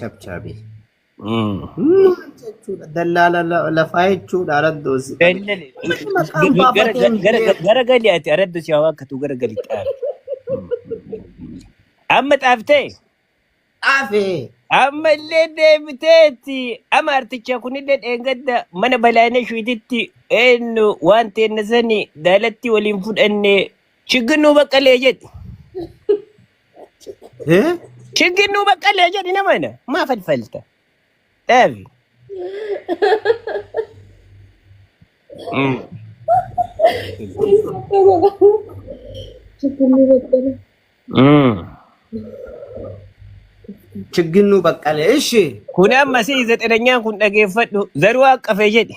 Chabchaabii. Mm. Jechuudha. Dallaala la- lafaa jechuudha araddoos. Dallali. Namni maqaan Gara baafatee hin gara beeku. gara gali ati aradda si hawaa akkatu gara gali xaafi. Amma xaaftee Dhaafee. amma illee deebiteetti amma articha kunillee dheengadda mana balaanee shuititti eenyu waan teenna sani daalatti waliin fudhanne chigginuu baqqalee jedhe. Eh? Chiggin nuu baqqalee jedhi nama ina. Maa falfalta? Dhaabi. Chicken liver belly. Chiggin nuu baqqalee. Ishi. Kun amma si zaxiranyaan kun dhageeffadhu. Zaruu haqqafe jedhi.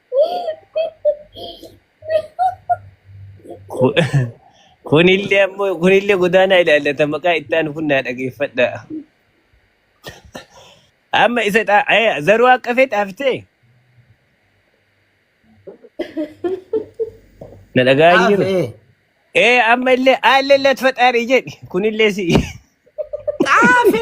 Ku- Kunillee ammoo kunillee godaanaa ilaallata maqaa itti aanu kun naa dhageeffadha. Amma isa dha- eh, zaruu akka feet haftee na dhagaa hin jiru. Hafe. Ee amma illee aallee illee ati faxaarii jedhi kunillee si. Xaafi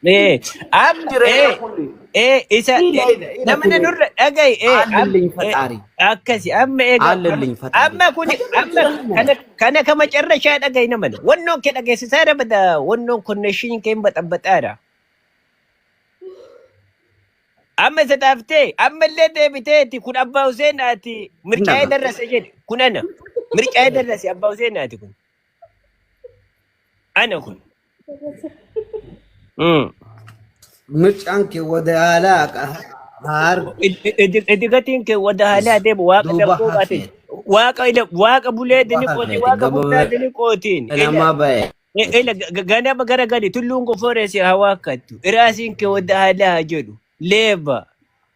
Ee, am, Namni ee, reefa kun ee, isa, ee, ila ila ila namni kuni nurra dhaga'i, ee, am, aallelliin ee, faxaari. akkasi, amma eega, am- Aallelliin faxaari. amma kuni, Kana amma, jira kana. kana, kana ka macarrashaa dhaga'i namani. Wannoon kee dhageessisaa dha bada, wannoon konneeshiniin kee hin baxabaxaa dha. Amma isa taaftee, amma illee deebiteeti, kun abbaa Huseen ati mircaa'ee Hindafa. darrase jedhe, kun ana. Mircaa'ee darrase abbaa Huseen ati kun, ana kun. Hmm. Mucaan kee wadaalaa ka haarge Idigatiin kee wada haalaa is deemu waaqa duuba darbuu baatin. hafeet Waaqa ila waaqa bulee duuba dini qooti hafeet waaqa gabama bulaa dini qootiin. Ila namaa ba'e. i- ila ga- ga- ganama gara gadi tulluun gofooree si haa waakkattu. Iraasiin kee wada haalaa haa jedhu. Leeba.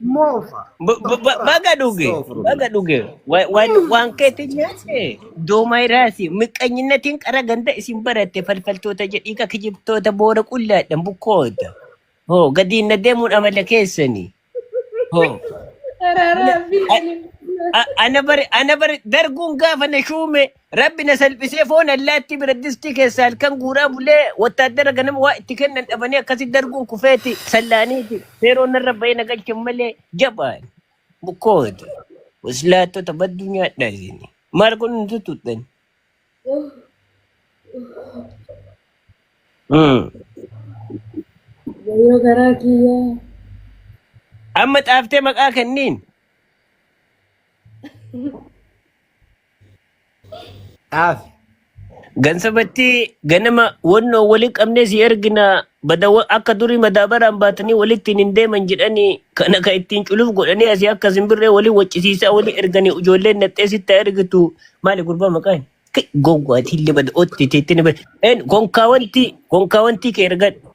Moofa. B- b- b- Astaghfirullah. baga dhuge baga Astaghfirullah. dhuge Wa- waan waan keetti nyaate doomaa iraati miqqanyinnatiin qara ganda isin baratte falfaltoota jedhiika kijibtoota boora qullaadhan bukkoota hoo gadiin na deemuun amala keessani hoo Araara ana fi a- ani. a- ana bari ana bari darguun gaafa na shuume Rabbi na salphisee foon allaattii biraddistii keessaa halkan guuraa bulee wattaaddara ganama waa itti kennan dhabanii akkasi darbuun kufeeti sallaaniiti seeroon narra ba'ee na galchan malee jabaan bukkoota waslaattota badduu nyaadhaa isin maal kun hin tuttuuttan. Wayyoo garaa kiyyaa. Amma xaaftee maqaa kenniin Dhaaf. Gansabatti ganama wannoo wali qabnee si ergina bada wa- akka durii madaabaraan baatanii walittiin hin deeman jedhanii kana ka ittiin culuf godhanii asii akka simbirree wali waccisiisaa wali erganii ijoolleen naxxee sitti haa ergitu maali gurbaa maqaan gowwaatiin libada otti teettini bada konkaa wanti konkaa wanti kee ergadhu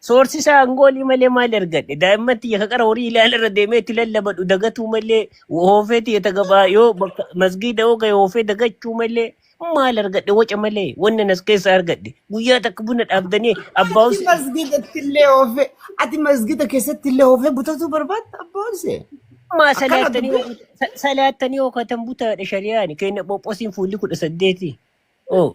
Soorsi isaa angoolii malee maal argadhe? Daa'imman tiyya ka qara horii ilaala irra deemee itti lallabadhu dagatuu malee hoofee tiyya tagabaa yoo bakka masgiida yoo ga'e hoofee dagachuu malee maal argadhe waca malee wanna nas keessa argadhe guyyaa takka buna dhaabdanii abbaa Ati Huseen masgiidatti illee oofee, ati masgiida keessatti illee oofee butatuu barbaadda abbaa Husee. maa Akkana salaattanii dubbii. hookatan sa- salaattanii hookatan butaadha shari'aan keenya phophoosiin fuulli kudha saddeeti. Oh.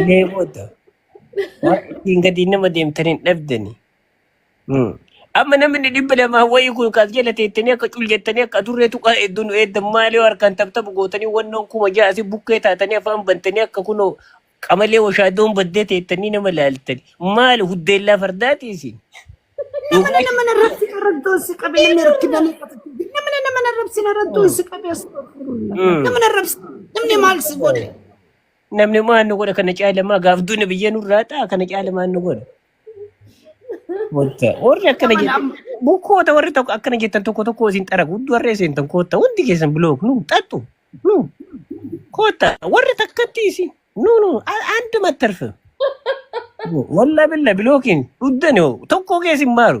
Ilee booda. Waan ittiin gadi nama deemtan hin dhabdani. Hmm. Amma namni dhibba lamaa wayii kun kaas jala teettanii akka cul jettanii akka adurree tuqaa eegduu nu eeddan maalee harkaan taphtaphu gootanii wannoon kuma ja'a asii bukkee taatanii afaan bantanii akka kunoo qamalee washaadoon baddee teettanii nama laaltani. Maali huddeellaa fardaati isin? Namni Dhugaa nama narratti arraddoon si qabe namni rakkina ni qaba. Namni nama narrabsi narraddoon si qabe astagfirullah. Hmm. Nama narrabsi namni maal si godhe? Namni maal nu godha kana caalamaa gaaf duuna biyya nurraa ta'a kana caalamaa nu godha. Wanta warri akkana Nama jedhe nama. bukkoota warri tokko akkana jettan tokko tokko isin xara guddoo warri seentan kootta hundi keessan bilook nu xaxxu nu kootta warri takkatti isin nu nu andi mattarfe wallaa billa bilookiin dhuddan yoo tokko keessin maaru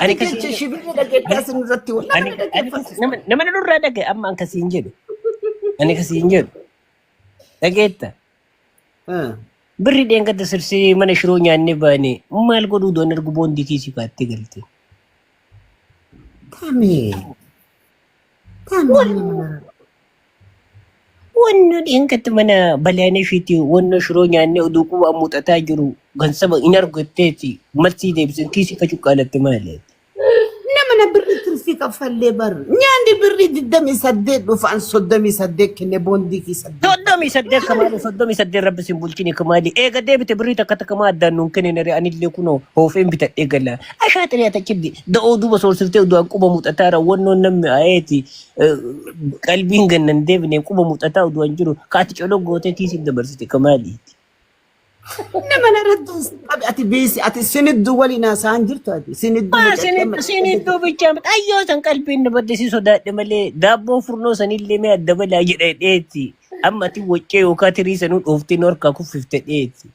Ani Ati akkasiin jecha jedhu. shibirri dhageettaa sin irratti wal Ani nama ani kasi- dhaggeeffattisa. nama nama na nurraa dhagaye amma an kasiin jedhu. Ani kasiin jedhu. Dhageetta. Ah. Birri dheengadda sirsee mana shiroo nyaannee baane maal godhuu doon ergu boondii kiisii baattee galte. Tamee. Wanno dheenkatti mana balaaneefiiti wanno shiroo nyaannee oduu quba muuxataa jiru gansaba hin argatteeti marsii deebisan kiisii ka cuqqaalatte maali? Namana birri tirfii kaffallee bar nyaanni birri 28 dhufaan 38 kenne boondii kii 8. Soddomii saddeet kamaali soddomii saddeet rabbi sin bulchini kamaali eega deebite birrii takka takka maa addaan nuun kenninare anillee kunoo hoofeen bitadhee gala Ashaa xiree atachibdi da'oo duuba soorsiftee du'aan quba muuxataa irra wannoon namni ayeeti qalbiin gannan deebinee quba muuxataa du'aan jiru kaati colo gootee tiisiif dabarsite kamaaliiti. Nama narratti hin qabi ati biisi ati siniddu waliin haasa'an jirtu ati siniddu Maa mucatti amma siniddu siniddu bichaa miti ayyoo san qalbiin na badde si sodaadhe malee daabboo furnoo sanillee mee adda balaa jedha dheeti amma ati waccee yookaan tirii sanuu dhooftee nu harkaa kuffifte dheeti.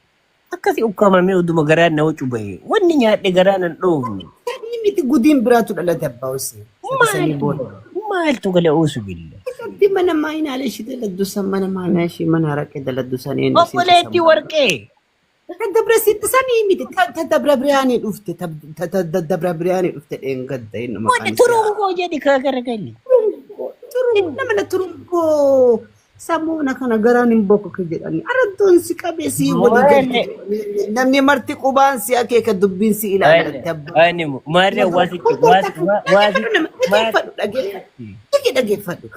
Akkasi ukkaamamee oduma garaan na wacu bahee. Wanni nyaadhe garaa nan dhoofne. Inni miti gudiin biraatu dhalate abbaa Hussein. Sadi sanii Maaltu booda. maaltu gale uusu billa. Isatti mana maayinaalee ishii daladdu san mana maayinaa ishii mana haraqee daladdu san eenyu isiin Obboleetti dhiisan warqee. Ta dabra sitti sanii miti ta ta dabra biraanii dhufte ta ta ta ta dabra biraanii dhufte dheengadda inni maqaan Wanni isaa. turuun koo jedhi kaa garagalli. Turun nama na turun koo Sammuu na kana garaan hin bokoke jedhanii araddoon si qabee si walii Wayne, galti jedhanii namni marti qubaan si akeeka dubbiin si ilaala Wayne, irratti abbaa Wayne, koo. maarree Nagaa waasitti, kun kun waasi, takka wa- waasi, dhageeffadhu nama maarree. dhageeffadhu dhageeffadhu dhage dhageeffadhu.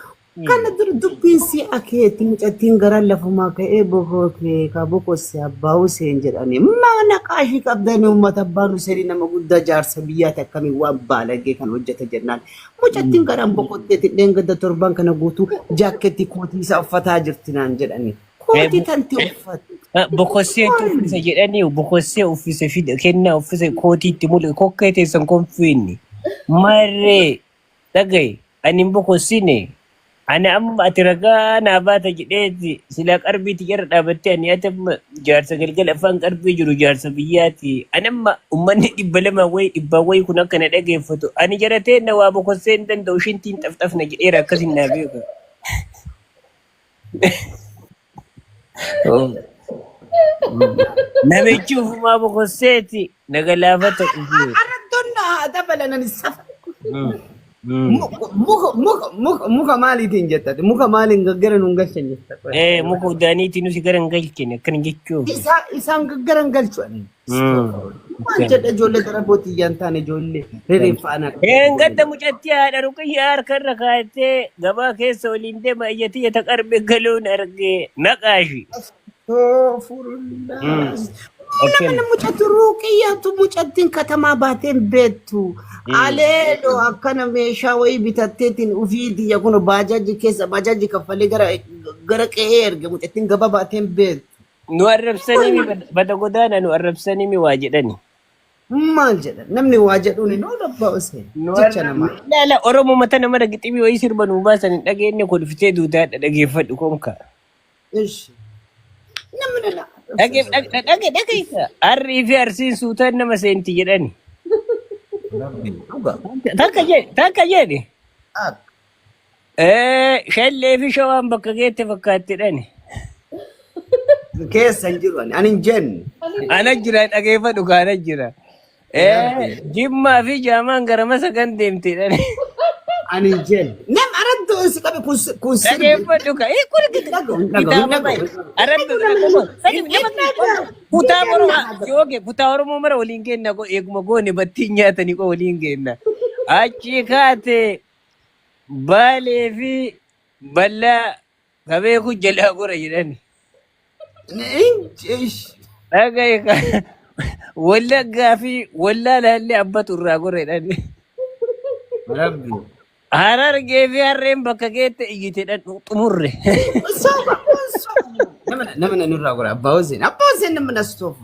Kana dura dubbiin si akeeti mucattiin garaan lafumaa ka'ee bokoo kee ka bokosse abbaa Huseen jedhanii mana qaashii qabdanii uummata abbaan Huseenii nama guddaa jaarsa biyyaati akkamiin waan baalagee kan hojjeta jennaan Mucattiin garaan boqotteeti dheengadda torban kana guutuu jaakkeetti kootii isaa uffataa jirti naan jedhani. Kootii tanti uffatti. Bokossee itti uffise jedhanii bokossee uffise fide kennaa uffise kootii itti mul'ise kokkee teessan konfiinni marree dhagaye ani hin bokossine Ani amma ati ragaa naa baata jedheeti silaa qarbii tiyyarra dhaabattee ani ati amma jaarsa galgala afaan qarbii jiru jaarsa biyyaati. Ani amma ummanni dhibba lama wayi dhibbaa wayi kun akka na dhageeffatu ani jaratee na waa bokossee hin danda'u shintiin xafxafna jedheera akkasin naa beeka. Oh, mm. Namichi ufumaa bokosseeti na galaafata dhufee. Arrattoon na haa dabalanan safa. Mm, mm. Muka muka muka muka muka maaliitiin jettati? Muka maaliin gaggara nuun galchan jettati? Eh, muka udaaniitiin nuti gara hin galchine akkana jechuuf. Isaa isaan gaggara hin galchu. Maal jedha ijoollee gara bootii iyyaan taane ijoollee rereeffaa anaa dhufee Een ijoollee gadda jedha. mucattii haadha ruqiyyaa harka irra kaayattee gabaa keessa waliin deema iyyattii jata qarbe galuun arge naqaashi. Astagfirullah. Ila Akkam. mina mucatu ruuqiyyatu mucattiin katamaa baateen beektu. Aleelo akkana meeshaa wayii bitatteetiin ufii tiyya kun baajaaji keessa baajaaji kaffalee gara gara qe'ee erge mucattiin gaba baateen beektu. Nu arrabsanii mi bada bada godaana nu arrabsanii mi waa jedhani. Maal jedha namni waa jedhuun hin oolu abbaa Huseen Nu jecha arra namaa. ilaala Oromoo mata nama dhagiximii wayii sirba nuu baasan hin dhageenne kolfitee duutaa dhageeffadhu konka. Ishi namni na Dhage arrabsees dhage arrabse. dhage dhage isa. Arrii fi arsiin suutaan nama seenti jedhani. Rabbi dhuga Takka dhuga jedhe takka jedhe. akka. Eh, Shallee fi shawaan bakka geette fakkaatti dhani. Keessa hin jiru ani. Ani hin jennu. Ana jira dhageeffadhu kaa ana jira. Eh, Jimmaa fi Jaamaan gara masa kan deemte dhani. Ani hin jennu. Nam araddu si qabe kun si- kun sirbi. Dhageeffadhu kaa. Eh, kun Hin dhagahu, hin dhagahu, hin kitaaba bahe. dhagahu. Arabbi bira qofa. Sadi nama kutaa Oromoo yoo kee kutaa Oromoo mara waliin kenna koo eeguma goone battiin nyaatanii koo waliin kenna. Achi kaate Baalee fi ballaa ka beeku jalaa gora jedhani. Ish. Dhagaye ka wallaggaa fi wallaalaallee abbatu irraa gora jedhani. Rabbi. Harargee fi harreen bakka keette iyyite dhadhu xumurre. Soba kun soba. Nama nama nurraa gora abbaa Hussein. Abbaa Hussein nama na stoofu.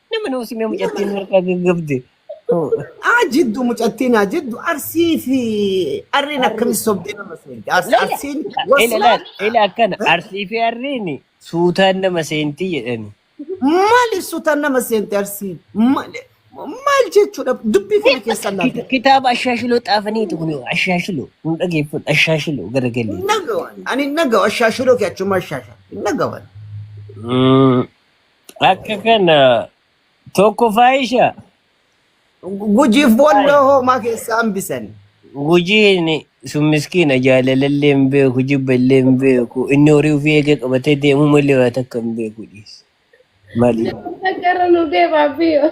Nama nama simee mucattiin harkaa gaggabde. Aa jiddu mucattiin haa jiddu arsii fi arriin Arri akkamis sobdee nama seenti. Ars- laila Arsiin ila wasilaa laal ila akkana arsii fi arriini suutaan nama seentii jedhani. maali suutaan nama seenti arsiin maali maal jechuudha dubbii kana Beekta keessa laata. kita- kitaaba ashaashiloo xaafaniitu kun ashaashiloo nu dhageeffadhu ashaashiloo garagalee. Nagawan ani nagawa shaashiroo kee achuma shaasha nagawan. Mm. Akka kana tokko faayisha Gujiif boolloo hoomaa keessaa hambisan. gujiin sun miskiina jaalalallee hin beeku jibba illee hin beeku inni horii ofii eegee qabatee deemuu malee waa takka hin beeku dhiis. Mali. Gara nu deemaa biyyo.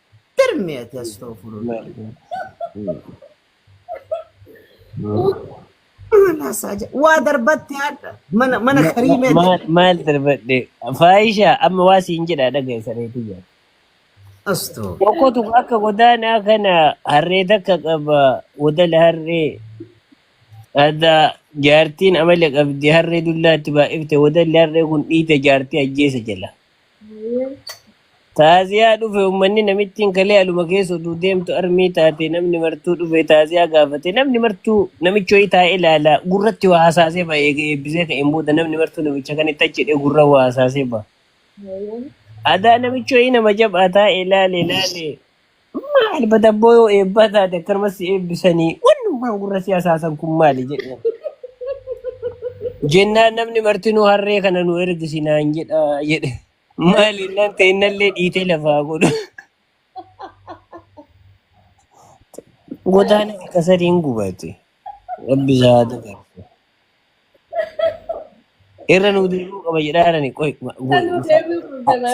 Tirmi ati astoofurullaa. Maal haasaa jira? Waa darbatti haadha. Mana mana kariimee maal darbatti. maal darbadhe faayisha amma waa siin jedha dhagaye sareetii jira Astoo. tokkotu akka godaanaa kana harree takka qaba wodala harree adda jaartiin amala qabdi harree dullaatti baay'ifte wodalli harree kun dhiite jaartii ajjeesa jala Taaziyaa dhufe uummanni namittiin kalee aluma keessa utuu deemtu armii taate namni martuu dhufe taaziyaa gaafate namni martuu namichi wayii taa'ee ilaala gurratti waa hasaasee ba'a eega eebbisee ka'een booda namni martuu namicha kan itti achi jedhee gurra waa hasaasee ba'a. Adaa namichi wayii nama jabaa taa'e ilaale ilaale Maal badabboo yoo eebbaa taate akkanuma si eebbisanii wannummaan gurra si hasaasan kun maali jedhe. Jennaan namni martinuu harree kana nu ergisi naan jedha jedhe. Maali nan ta'e innallee dhiitee lafaa godhu. Godaana akka sadiin gubate. Rabbi isaa haa dabarsu. Irra nuu deebi'uu qaba jedhaarani. Qoy Kan nu deebi'u kun demaa